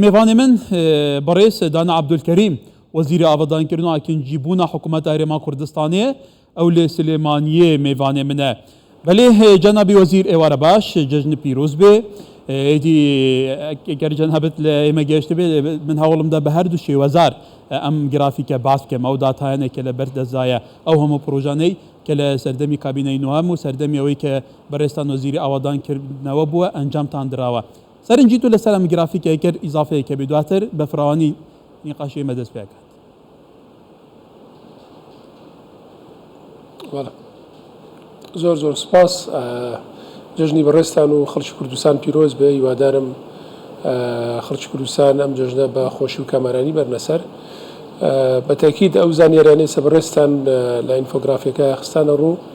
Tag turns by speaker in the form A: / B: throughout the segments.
A: میوانی من بەڕێز دانا عەبدولکەریم وەزیری ئاڤادانکردن و ئاکنجیبوونا حکوومەت ئەرێما کوردستانێ ئەو لێ سلێمانیێ مێڤانێ منە. بەلێ جەنابی وەزیر ئێوارە باش، جەژن پیرووز بێ. ئێدی گەر جەنابت لە ئێمە گەیشتبێ من هەوڵم دا بە هەردوو شێوەزار ئەم گرافیکە باس بکەم ئەو داتایانێ کە لە بەر دەستدایە ئەو هەموو پرۆژانەی کە لە سەردەمی کابینەی نۆهەم و سەردەمی ئەوەی کە بەڕێزتان وەزیری ئاوادانکردنەوە بووە ئەنجامتان دراوە سەرنجی تۆ لەسەر ئەم گرافیکە گەر ئیزافەی کەبێت دواتر بە فراوانی نیقاشی ئێمە دەست پێ کات.
B: وەڵا زۆر زۆر سپاس جەژنی بەڕێستان و خەڵکی کوردستان پیرۆز بێ هیوادارم خەڵکی کوردستان ئەم جەژنە بە خۆشی و کامەرانی بەرنەسەر بەتەکیید ئەو زانیاریانەی سە بەڕێستان لە ئینفۆگرافیەکە خستانە ڕوو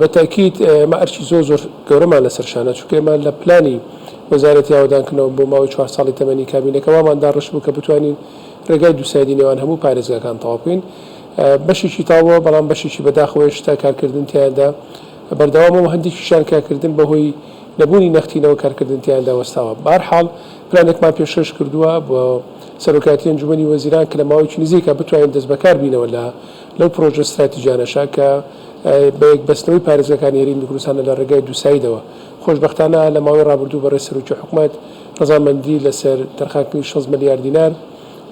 B: بە تەئکید ئێمە ئەرکی زۆر زۆر گەورەمان لەسەر شانە، چونکە ئێمە لە پلانی وەزارەتی ئاوەدانکردنەوە بۆ ماوەی چوار ساڵی تەمەنی کابینەکە وامان داڕشت بوو کە بتوانین رێگای دوو سایدی نێوان هەموو پارێزگاکان تەواو بکەین. بەشێکی تەواو بووە، بەڵام بەشێکی بەداخەوە هێشتا کارکردن تیایاندا بەردەوامە و هەندێکیشیان کارکردن بەهۆی نەبوونی نەختینەوە کارکردن تیایاندا وەستاوە. بە هەر حاڵ پلانێکمان پێشکەش کردووە بۆ سەرۆکایەتی ئەنجوومەنی وەزیران کە لە ماوەیەکی نزیکا بتوانین دەستبەکار بینەوە لە لەو پڕۆژە ستراتیجانەشە کە بە یەکبەستنەوەی پارێزگاکانی هەرێمی کوردستانە لە ڕێگای دووسایدەوە. خۆشبەختانە لە ماوەی ڕابردوو بەڕێز سەرۆکی حکومەت ڕەزامەندی لەسەر تەرخانکردنی شەست ملیار دینار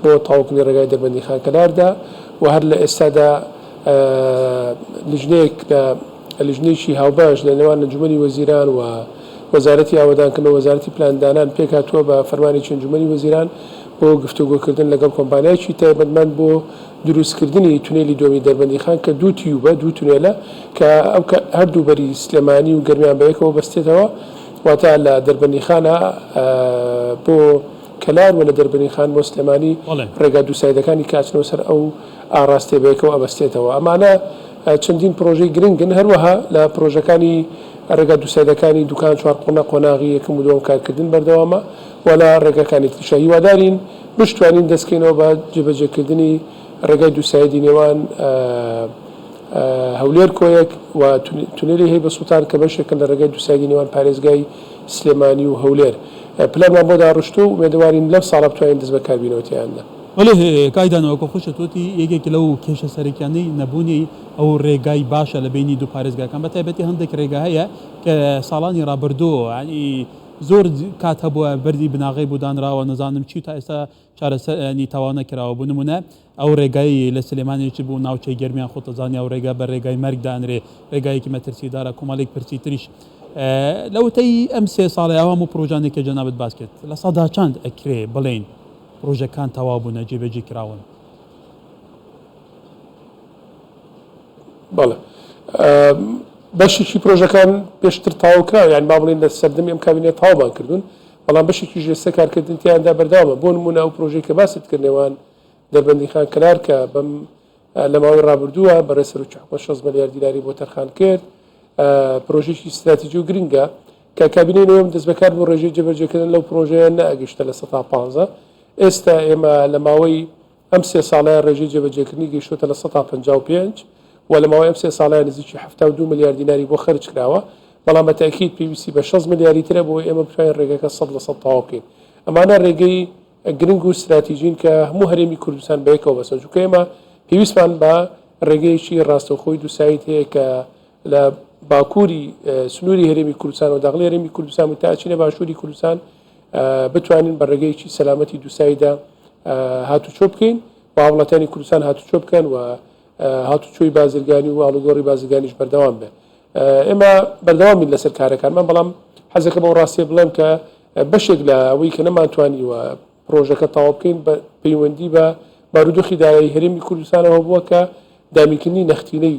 B: بۆ تەواوکردنی ڕێگای دەربەندی خانکەلار دا و هەر لە ئێستادا لیژنەیەک لە لیژنەیەکی هاوبەش لە نێوان ئەنجومەنی وەزیران و وەزارەتی ئاوەدانکردن و وەزارەتی پلاندانان پێکهاتووە بە فەرمانێکی ئەنجومەنی وەزیران بۆ گفتوگۆکردن لەگەڵ کۆمپانیایەکی تایبەتمەند بۆ دروستکردنی تونێلی دووەمی دەربەندیخان کە دوو تیووبە، دوو تونێلە کە هەردوو بەری سلێمانی و گەرمیان بە یەکەوە بەستێتەوە، واتە لە دەربەندیخانە بۆ کەلار و لە دەربەندیخان بۆ سلێمانی ڕێگا دووسایدەکانی کە ئەچنەوە سەر ئەو ئاڕاستەیە بە یەکەوە ئەبەستێتەوە. ئەمانە چەندین پڕۆژەی گرنگن، هەروەها لە پڕۆژەکانی ڕێگا دووسایدەکانی دوکان چوارقوڵە قۆناغی یەکەم و دووەم کارکردن بەردەوامە و لە ڕێگاکانی تریشە هیوادارین بشتوانین دەست کەینەوە بە جێبەجێکردنی ڕێگای دوو سایدی نێوان هەولێر کۆیەک و تونێلی هەیبە سوڵتان کە بەشێکن لە ڕێگای دوو سایدی نێوان پارێزگای سلێمانی و هەولێر پلانمان بۆ داڕشتووە و ئومێدەوارین لەم ساڵە بتوانین دەست بەکار بینەوە تێیاندا. بەلێ کاک
A: دانا وەکو خۆشت وتی یەکێک لەو کێشە سەرەکیانەی نەبوونی ئەو ڕێگای باشە لە بەینی دوو پارێزگاکان بە تایبەتی هەندێک ڕێگا هەیە کە ساڵانی ڕابردوو یانی زۆر کات هەبووە بەردی بناغەی بۆ دانراوە نەزانم چی و تا ئێستا چارەسەر یانی تەواو نەکراوە بۆ نموونە ئەو رێگای لە سلێمانی چ بوو ناوچەی گەرمیان خۆت ئەزانی ئەو رێگا بە رێگای مەرگ دانرێ رێگایەکی مەترسیدارە کۆمەڵیک پرسی تریش لە وتەی ئەم سێ ساڵە ئەو هەموو پرۆژانێک کە جەنابت باس کرد لە سەدا چەند ئەکرێ بڵێین پرۆژەکان تەواو بوونە جێبەجێ کراون
B: بەڵێ بەشێکی پرۆژەکان پێشتر تاوکراوە یان با بڵین لە سەردەمی ئەم کابینە تاوبان کردوون بەڵام بەشێکی ژێسە کارکردن تیاندا بەرداوە بۆ نمونە ئەو پرۆژەی کە باست کرد نێوان دەربەندی خان کەلار کە بەم لە ماوەی ڕابردووە بەڕێ سەر و چحکۆ 6 ملیار دیلاری بۆ تەرخان کرد پرۆژێکی استراتیجی و گرنگە کە کابینەی نەوەم دەست بەکار بۆ ڕێژەی جێبەجێکردن لەو پرۆژەیە نەگەشتە لە 115 ئێستا ئێمە لە ماوەی ئەم سێ ساڵەیە ڕێژەی جێبەجێکردنی گەیشتووەتە لە سەدا پەنجا و پێنج و لە ماوەی ئەم سێ ساڵەیە نزیکی حەفتا و دوو ملیار دیناری بۆ خەرج کراوە، بەڵام بە تەئکید پێویستی بە شەست ملیاری ترە بۆ ئەوەی ئێمە بتوانین ڕێگەکە سەد لە سەد تەواو بکەین. ئەمانە ڕێگەی گرنگ و ستراتیجین کە هەموو هەرێمی کوردستان بەیەکەوە بەستن، چونکە ئێمە پێویستمان بە ڕێگەیەکی ڕاستەوخۆی دووساید هەیە کە لە باکووری سنووری هەرێمی کوردستان و داخلی هەرێمی کوردستان و تا ئەچینە باشووری کوردستان بتوانین بە ڕێگەیەکی سەلامەتی دووساییدا هاتوچۆ بکەین و هاوڵاتیانی کوردستان هاتوچۆ بکەن و هاتوچۆی بازرگانی و ئاڵوگۆڕی بازرگانیش بەردەوام بێت ئێمە بەردەوامین لەسەر کارەکانمان بەڵام حەزەکە بەو ڕاستیە بڵێم کە بەشێک لە ئەوەی کە نەمانتوانیوە پرۆژەکە تاوا بکەین بە پەیوەندی بە بارودۆخی دارایی هەرێمی کوردستانەوە بووە کە دامیکردنی نەختینەی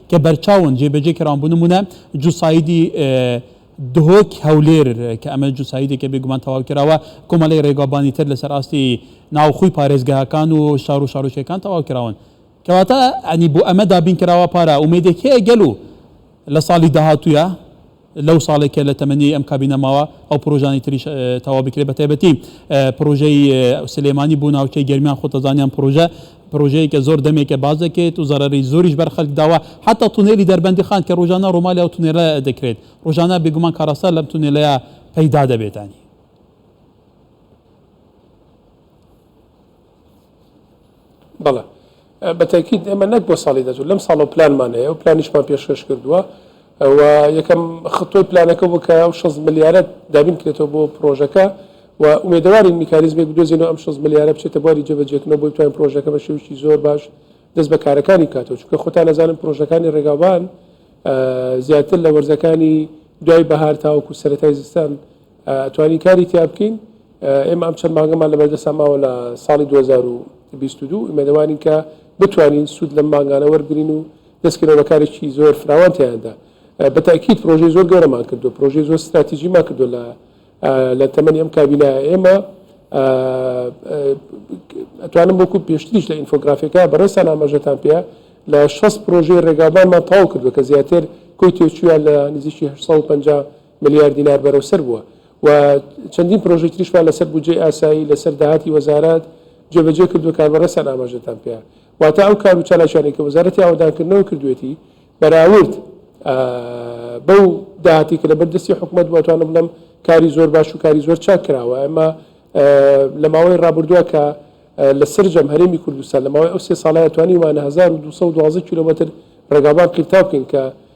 A: کە بەرچاون جێبەجێ کراون بۆ نموونە جوسایدی دهۆک هەولێر کە ئەمە جوسایدێکە بێگومان تەواو کراوە کۆمەڵی ڕێگابانی تر لەسەر ئاستی ناوخۆی پارێزگاکان و شار و شارۆچەکان تەواو کراون کەواتە ئەنی بۆ ئەمە دابین کراوە پارە ئومێدێک هەیە گەلو لە ساڵی داهاتووە لەو ساڵەی کە لە تەمەنیی ئەم کابینە ماوە ئەو پڕۆژانەی تریش تەواو بکرێت بە تایبەتی پڕۆژەی سلێمانی بۆ ناوچەی گەرمیان خۆت دەزانی ئەم پڕۆژە پڕۆژەیەکە زۆر دەمێکە باس دەکرێت و زەرەری زۆریش بەر خەلک داوە حەتا تونێلی دەربەندی خان کە ڕۆژانە ڕۆمالی ئەو تونێلە دەکرێت ڕۆژانە بێگومان کاراستە لەم تونێلەیە پەیدا دەبێتانی
B: بەڵێ بە تەکید ئێمە نەک بۆ ساڵی دەچوو لەم ساڵ و پلانمان هەیە و پلانیشمان پێشکەش کردووە و یەکەم خطۆی پلانەکە بوو کە ئەو 6 ملیارەت دابین کرێتەوە بۆ پرۆژەکە و ئومێدەوارین میکانیزمێک بدۆزینەوە ئەم 6 ملیارە بچێتە بواری جێبەجێکردنەوە بۆی بتوانین پرۆژەکە بە شێوکی زۆر باش دەست بە کارەکانی بکاتەوە چونکە خۆتان نەزانن پرۆژەکانی ڕێگاوان زیاتر لە وەرزەکانی دوای بەهار تاوەکو سەتای زستان توانین کاری تیا بکەین. ئێمە ئەم چەند مانگەمان لەبەردەستان ماوە لە ساڵی دوو هەزار و بیست و دوو، ئومێدەوارین کە بتوانین سوود لەم مانگانە وەربگرین و دەستکەینەوە بە کارێکی زۆر فراوان تیایاندا. بە تەئکید پرۆژەی زۆر گەورەمان کردووە، پرۆژەی زۆر ستراتیجیمان کردووە لە لە تەمەنی ئەم کابینایە. ئێمە ئەتوانم وەکوو پێشتریش لە ئینفۆگرافیەکە بەڕێزتان ئاماژەتان پێە، لە شەست پرۆژەی ڕێگاوبانمان تەواو کردووە کە زیاتر کۆی تێچوویان لە نزیکی هەشت سەد و پەنجا ملیار دینار بەرەو سەر بووە و چەندین پرۆژەی تریشمان لەسەر بودجەی ئاسایی لەسەر داهاتی وەزارەت جێبەجێ کردووە کاربەڕێستان ئاماژەتان پێ واتە ئەو کار و چالاکیانەی کە وەزارەتی ئاوەدانکردنەوە کردوێتی بەراورد بەو داهاتی کە لەبەر دەستی حکوومەت بۆتوانە بڵم کاری زۆر باش و کاری زۆر چاک کراوە ئەمە لە ماوەی ڕابردووە کە لە سرجەم هەرێمی کوردستان لە ماوەی ئەو سێ ساڵایە توانیمانە 1212 کیلومتر ڕێگابان قیرتاو بکەین کە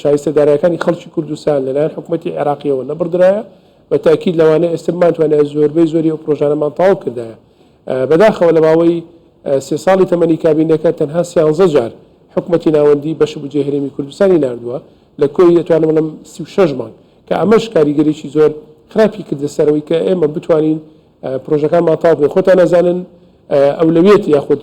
B: شایستە دارایەکانی خەڵکی کوردستان لەلایەن حکومەتی عێراقیەوە نەبڕدرایە بە تاکیید لەوانە ئێستا بمانتوانای زۆربەی زۆری ئەو پرۆژانەمان تاو کردایە بەداخەوە لە ماوەی سێ ساڵی تەمەنی کابینەکە تەنها سیانزە جار حکومەتی ناوەندی بەش بجێ هەرێمی کوردستانی نردووە لە کۆی دەتوانم بڵم سی و شەش مانگ کە ئەمەش کاریگەریی زۆر خراپی کردە سەرەوەی کە ئێمە بتوانین پرۆژەکانمان تاو بێ خۆتان نازانن ئەولەویەت یاخود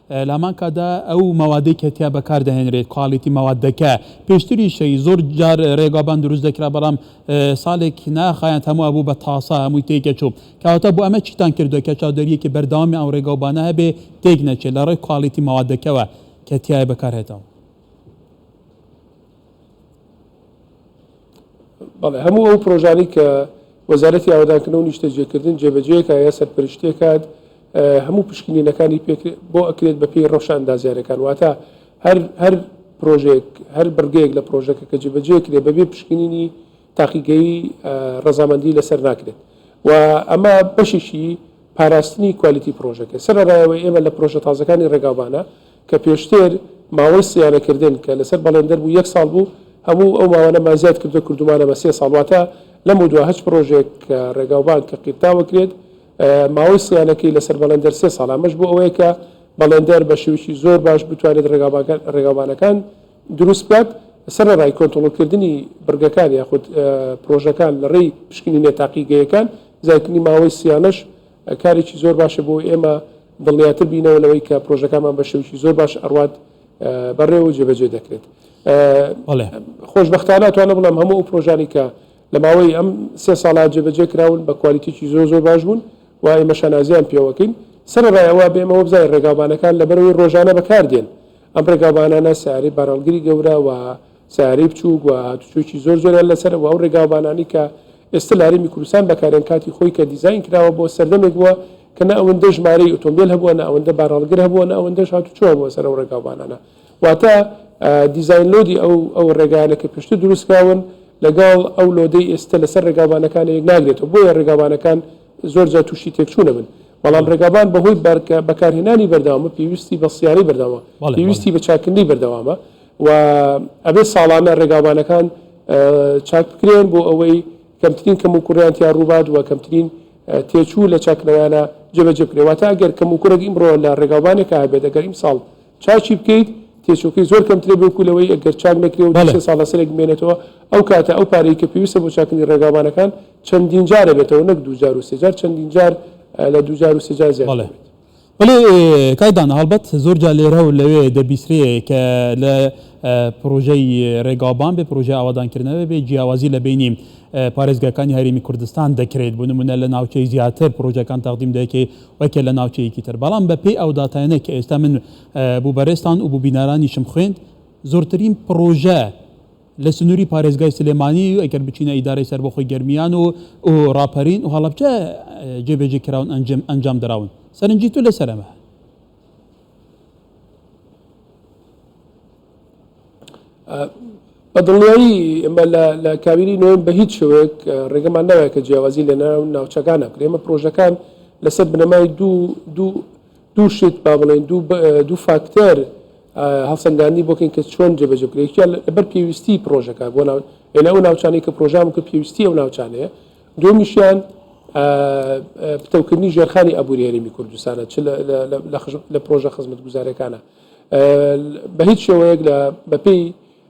A: لامان کاتدا ئەو مەوادەی کە تیا بەکار دەهێنرێت کوالیتی مەوادەکە پێشتریشەی زۆر جار رێگابان دروست دەکرا بەڵام ساڵێک ناخایاند هەموو ئەبوو بە تاسا هەمووی تێکەچوو کەواتە بۆ ئەمە چیتان کردوە کە چاودێریەکی بەردەوامی ئەو رێگاوبانە هەبێ تێک نەچێت لە رێی کوالیتی مەوادەکەوە کە تیایە بەکار هێتەوە.
B: بەڵێ هەموو ئەو پرۆژانی کە وەزارەتی ئاوادانکردن و نیشتەجێکردن جێبەجێکە یا سەرپەرشتێکات هەموو پشکنینەکانی پێکرێت بۆ ئەکرێت بە پێی ڕەوشە ئەندازیارەکان واتە هەر هەر پرۆژێک هەر بڕگەیەک لە پرۆژەکە کە جێبەجێ کرێت بەبێ پشکنینی تاقیگەی ڕەزامەندی لەسەر ناکرێت و ئەمە بەشێکی پاراستنی کوالیتی پرۆژەکە سەرڕایەوەی ئێمە لە پرۆژە تازەکانی ڕێگاوبانە کە پێشتر ماوەی سیانەکردن کە لەسەر بەڵێندەر بوو یەک ساڵ بوو، هەموو ئەو ماوانەمان زیاد کردووە کردوومانە بە سێ ساڵ، واتە لەمەودوا هەچ پڕۆژەیەک کە ڕێگاوبان کە قیرتاوە کرێت ماوەی سیانەکەی لەسەر بەڵێندەر سێ ساڵە، ئەمەش بۆ ئەوەیە کە بەڵێندەر بە شێوەیەکی زۆر باش بتوانێت ڕێگاوبانەکان دروست بکات سەرەڕای کۆنترۆڵکردنی بڕگەکان یاخود پڕۆژەکان لە ڕێی پشکنینە تاقیگەیەکان، زیادکردنی ماوەی سیانەش کارێکی زۆر باشە بۆ ئێمە، دڵنیاتر بینەوە لەوەی کە پرۆژەکانمان بە شێوکی زۆر باش ئەڕوات بەڕێ و جێبەجێ دەکرێت خۆشببختانە توانە بڵم هەموو ئەو پرۆژانی کە لە ماوەی ئەم سێ ساڵات جێبەجێ کراون بە کوالیتیی زۆر زۆر باش بوون و ئێمە شانازیان پێوەکەین سەرڕایەوە بێمەوە بزای ڕێگاوبانەکان لەبەرەوەی ڕۆژانە بەکاردێن ئەم ڕێگاوبانانە سیارەی بارەڵگری گەورە و سەیارەی بچووک و هاتوچۆیەکی زۆر زۆریان لەسەر و ئەو ڕێگاوبانانەی کە ئێستا لە هەرێمی کوردستان بەکارێن کاتی خۆی کە دیزاین کراوە بۆ سەردەمێک بووە کە نە ئەوەندە ژمارەی ئۆتۆمبیل هەبووە نە ئەوەندە بارهەڵگر هەبووە نە ئەوەندەش هاتوچۆ هەبووە سەر ئەو ڕێگاوبانانە واتە دیزاین لۆدی ئەو ئەو ڕێگایانە کە پێشتر دروستکراون لەگەڵ ئەو لۆدەی ئێستا لەسەر ڕێگاوبانەکان یەک ناگرێتەوە بۆیە ڕێگاوبانەکان زۆر جار تووشی تێکچوونە بن بەڵام ڕێگابان بەهۆی بەرکە بەکارهێنانی بەردەوامە پێویستی بە سیارەی بەردەوامە بەڵێ، بەڵێ. پێویستی بە چاککردنی بەردەوامە و ئەبێت ساڵانە ڕێگاوبانەکان چاک بکرێن بۆ ئەوەی کەمترین کەم و کوڕیان تیا ڕووبات و کەمترین تێچوو لە چاکرەوانە جێبەجێ بکرێت واتە ئەگەر کەم و کوڕێک ئیمڕۆ لە ڕێگاوبانێکە هەبێت ئەگەر ئیمساڵ چاچی بکەیت تێچۆکەی زۆر کەمترێ بۆکو لەوەی ئەگەر چاک نەکرێ و سێ ساڵ لەسەرێک بمێنێتەوە ئەو کاتە ئەو پارەی کە پێویستە بۆ چاکنی ڕێگاوانەکان چەندین جارە بێتەوە نەک دوجار و سێجار چەندین جار لە دوجار و سێجار زیاد بڵێت وەلێ
A: کاک دانا هەڵبەت زۆر جار لێرە و لەوێ دەبیسرێ کە لە پڕۆژەی رێگاوبان بێ، پڕۆژەی ئاوەدانکردنەوە بێ، جیاوازی لە بەینی پارێزگاکانی هەرێمی کوردستان دەکرێت، بۆ نموونە لە ناوچەی زیاتر پڕۆژەکان تەقدیم دەکرێ وەکێ لە ناوچەیەکی تر، بەڵام بە پێی ئەو داتایانەی کە ئێستا من بۆ بەرێزتان و بۆ بینەرانیشم خوێند، زۆرترین پڕۆژە، لە سنووری پارێزگای سلێمانی و ئەگەر بچینە ئیدارەی سەربەخۆی گەرمیان و و ڕاپەرین و هەڵەبجە جێبەجێ کراون ئەنجم ئەنجام دراون سەرنجی تو لەسەر ئەمە
B: بە دڵنیایی ئمە لە کابینی نوێن بە هیچ شوێک ڕێگەمان ناوێت کە جیاوازی لە ناو ناوچەکان نەکرێمە پرۆژەکان لەسەر بنەمای دوو دوو دوو شت با بڵێین دوو فاکتەر هەڵسەنگاندنی بۆکەین کە چۆن جێبەجێ بکرێت یان لەبەر پێویستی پرۆژەکە بۆ ناو ئێلە ئەو ناوچانەی کە پرۆژام کە پێویستی ئەو ناوچانەیە دومیشیان پتەوکردنی ژێرخانی ئەبووری هەرێمی کوردستانە چ لە پرۆژە خزمەت گوزارەکانە بە هیچ شێوەیەک لە بەپی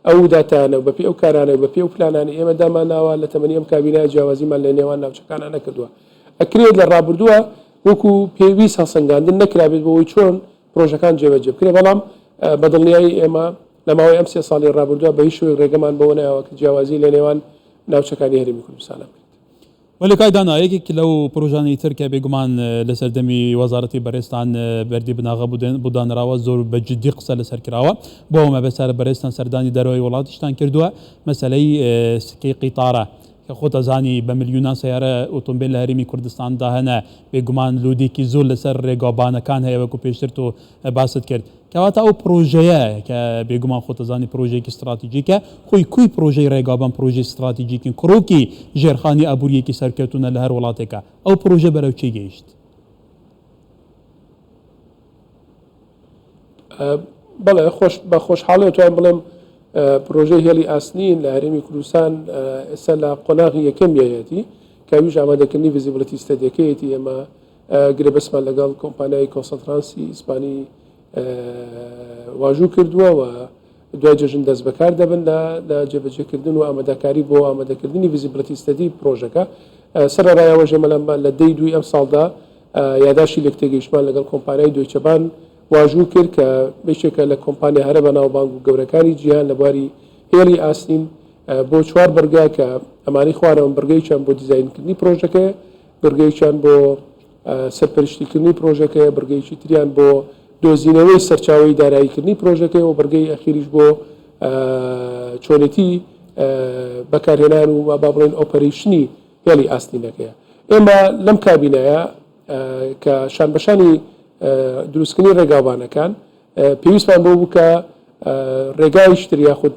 B: ئەو داتانە بەپی ئەو کارانە بەپی ئەو پلانانی ئێمە دامانناوە لە تەمەنی ئەم کابینای جیاوازیمان لە نێوان ناوچەکانە نەکردووە ئەکرێت لە ڕابردووە وەکو پێویست هەڵسەنگاندن نەکرابێت بۆوەی چۆن پرۆژەکان جێبەجێ بکرێت، بەڵام بە دڵنیایی ئێمە لە ماوەی ئەم سێ ساڵی رابوردوە بەهیچ شێوەیەک رێگەمان بەوە نایەوە کە جیاوازی لە نێوان ناوچەکانی هەرێمی کوردستانە بکرێت. وەلێ کاک دانا
A: یەکێک لەو پرۆژانەی تر کە بێگومان لە سەردەمی وەزارەتی بەرێزتان بەردی بناغە بۆ دانراوە زۆر بە جدی قسە لەسەر کراوە بۆ مەبەستە بەرێزتان سەردانی دەرەوەی وڵاتیشتان کردوە مەسەلەی سکەی قیتارە، کە خۆت ئەزانی بە ملیونان سەیارە ئۆتۆمبێل لە هەرێمی کوردستاندا هەنە، بێگومان لۆدێکی زۆر لەسەر رێگاوبانەکان هەیە وەکو پێشتر تۆ باست کرد. کەواتە ئەو پرۆژەیە کە بێگومان خۆت ئەزانی پرۆژەیەکی ستراتیجیکە، خۆی کوی پرۆژەی رێگاوبان پرۆژەی ستراتیجیکن کرۆکی ژێرخانی ئابووریەکی سەرکەوتونە لە هەر وڵاتێکا. ئەو پرۆژە بەرەو چی گەیشت؟
B: بەڵێ بە خۆشحاڵی توان بڵێم پرۆژەی هێڵی ئاسنین لە هەرێمی کوردستان ئێستا لە قۆناغی یەکەم یەتی کاویش ئامادەکردنی ڤزیبلەتی ستەدیەکەیەتی ئێمە گرێبەسمان لەگەڵ کۆمپانیای کۆسەترانسی ئیسپانی واژوو کردووە و دوای جەژن دەست بەکار دەبن لە لە جێبەجێکردن و ئامادەکاری بۆ ئامادەکردنی ڤیزیبلتی ستەدی پرۆژەکە. سەرەڕایەوەش ئێمە لە لە دەی دووی ئەمساڵدا یاداشتی لێکتێگەیشتمان لەگەڵ کۆمپانیای دۆیچە بان واژوو کرد کە یەکێکە لە کۆمپانیا هەرە بەناوبانگ و گەورەکانی جیهان لە بواری هێڵی ئاسنین بۆ چوار بڕگە کە ئەمانەی خوارەوەن بڕگەیەکیان بۆ دیزاینکردنی پرۆژەکەیە، بڕگەیەکیان بۆ سەرپەرشتیکردنی پرۆژەکەیە، بڕگەیەکی تریان بۆ دۆزینەوەی سەرچاوەی داراییکردنی پرۆژەکەیە و بڕگەی ئەخیریش بۆ چۆنێتی بەکارهێنان و با بڵێن ئۆپەرەیشنی هێڵی ئاستینەکەیە. ئێمە لەم کابینەیە کە شانبەشانی دروستکردنی ڕێگاوبانەکان، پێویستمان بەو بووکە ڕێگای شتر یاخود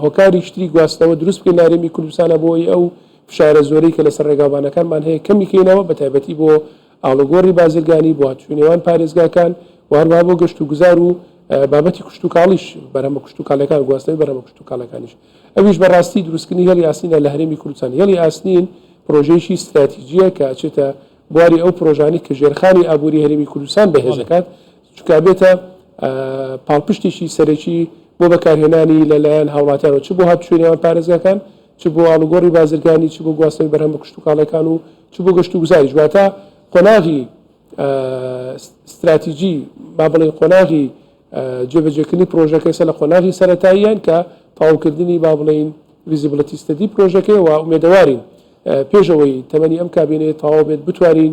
B: هۆکاری شتری گواستنەوە دروست بکەین لارێمی کوردستانە بۆی ئەو فشارە زۆرەی کە لەسەر ڕێگاوبانەکانمان هەیە کەمی کەینەوە بە تایبەتی بۆ ئاڵوگۆڕی بازرگانی بۆ هاتوو نێوان پارێزگاکان واروا بۆ گەشت و گوزار و بابەتی کوشت و کاڵیش بەرهەمە کوشت و کالەکان گواستنەوەی بەرهەمە کوشت و کالەکانیش ئەویش بەڕاستی دروستکردنی هێڵی ئاسنینە لە هەرێمی کوردستان هێڵی ئاسنین پرۆژەیەکی استراتیجیە کە ئەچێتە بواری ئەو پرۆژانی کە ژێرخانی ئابووری هەرێمی کوردستان بەهێز دەکات چونکە ئەبێتە پاڵپشتێکی سەرەکی بۆ بەکارهێنانی لەلایەن هاوڵاتیانەوە چ بۆ هاتوچۆی نێوان پارێزگاکان چ بۆ ئاڵوگۆڕی بازرگانی چ بۆ گواستنەوەی بەرهەم بە کشتتوکاڵەکان و چ بۆ گەشت و گوزاری جواتە قۆناغی استراتیجی با بڵێن قۆناغی جێبەجێکردنی پرۆژەکە ئێستا لە قۆناغی سەتاییان کە تەواوکردنی با بڵین ویزیبلەتی ستەدی پرۆژەکەی و ئومێدەوارین پێشەوەی تەمەنی ئەم کابینەیە تەواو بێت بتوانین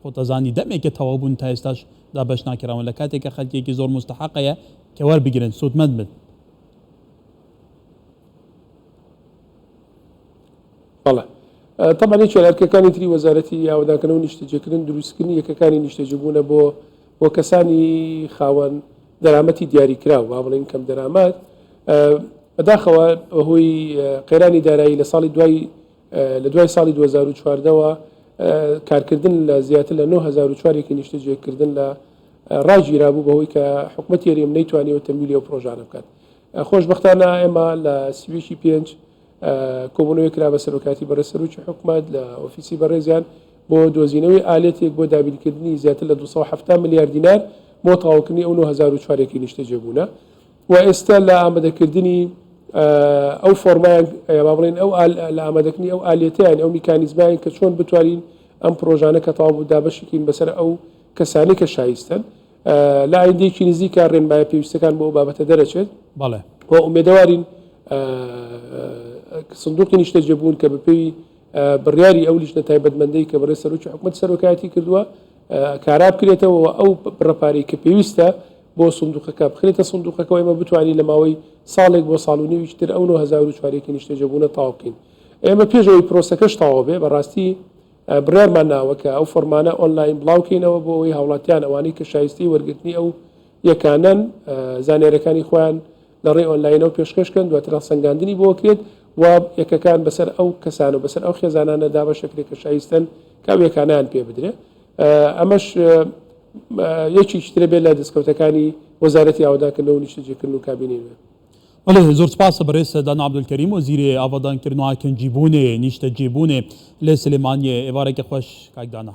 A: خۆت ئەزانی دەمێکە تەواو بوون تا ئێستاش دابەش ناکراون لە کاتێکا خەلکێکی زۆر موستەحەق هەیە کە وەربگرن سوودمەند بن.
B: بەڵێ تەبعەن یەکێ لە ئەرکەکانی تری وەزارەتی ئاوەدانکردنەوە نیشتەجێکردن دروستکردنی یەکەکانی نیشتەجێبوونە بۆ بۆ کەسانی خاوەن دەرامەتی دیاریکراو با بڵێین کەم دەرامەت بەداخەوە بەهۆی قەیرانی دارایی لە ساڵی دوای لە دوای ساڵی دوو هەزار و چواردە وە کارکردن لە زیاتر لە نۆ هەزار و چوار یەکی نیشتەجێکردن لە ڕاگیرابوو بەهۆی کە حکوومەتی یەرێم نەیتوانیەوە تەمویلی ئەو پرۆژانە بکات خۆشببختانە ئێمە لە سیویکی پێنج کۆبوونەوەی کرا بە سەرۆکاتی بەڕێ سەرروکی حکوومەت لە ئۆفیسی بەڕێزیان بۆ دۆزینەوەی ئالێتێک بۆ دابینکردنی زیاتر لە 270 ملیار دینار بۆ تەواوکردنی ئەو 1940 نیشتەجێبوونە وە ئێستا لە ئامەدەکردنی ئەو فۆرمایان یا با بڵێین ئەو لە ئامادەکردنی ئەو ئالیەتەیان ئەو میکانیزمایان کە چۆن بتوانین ئەم پرۆژانە کە تەواو بوو دابەشی کەین بەسەر ئەو کەسانی کە شایستەن لە ئایندەیەکی نزیکا ڕێنمایە پێویستەکان بۆ ئەو بابەتە دەرەچێت بەڵێ. وە
A: ئومێدەوارین
B: سندوقی نیشتەجێبوون کە بەپێی بڕیاری ئەو لیژنە تایبەتمەندەی کە بەڕێز سەرۆکی حکومەت سەرۆکایەتی کردووە کارا بکرێتەوە و ئەو بڕە پارەی کە پێویستە بۆ سندوقەکە بخرێتە سندوقەکەەوە ئێمە بتوانین لە ماوەی ساڵێک بۆ ساڵ و نێویش تر ئەو 1940ێکی نیشتەجەبوونە تاو بکەین ئێمە پێشەوەی پرۆسەکەش تاوە بێ بەڕاستی بڕارمان ناوە کە ئەو فۆرمانە ئۆنلاین بڵاوکەینەوە بۆ ئەوەی هاوڵاتیان ئەوانەی کە شایستی وەرگرتنی ئەو یەکانەن زانیارەکانی خۆیان لە ڕێی ئۆنلاینەوە پێشکەش کەن دواتر هەڵسەنگاندنی بۆ کرێت و یەکەکان بەسەر ئەو کەسان و بەسەر ئەو خێزانانە دابەشە کرێت کە شایستەن کە ئەو یەکانیان پێ بدرێ ئەمەش یەکیش ترە بێت لە دەستکەوتەکانی وەزارەتی ئاوادانکردنەوە نیشتەجێکردن و کابینەی نوێ بەڵێ زۆر
A: سپاسە بەڕێز دانا عەبدولکەریم وەزیرێ ئاوادانکردن و ئاکنجیبوونێ نیشتەجێبوونێ لە سلێمانیێ ئێوارێکی خۆش کاک دانا.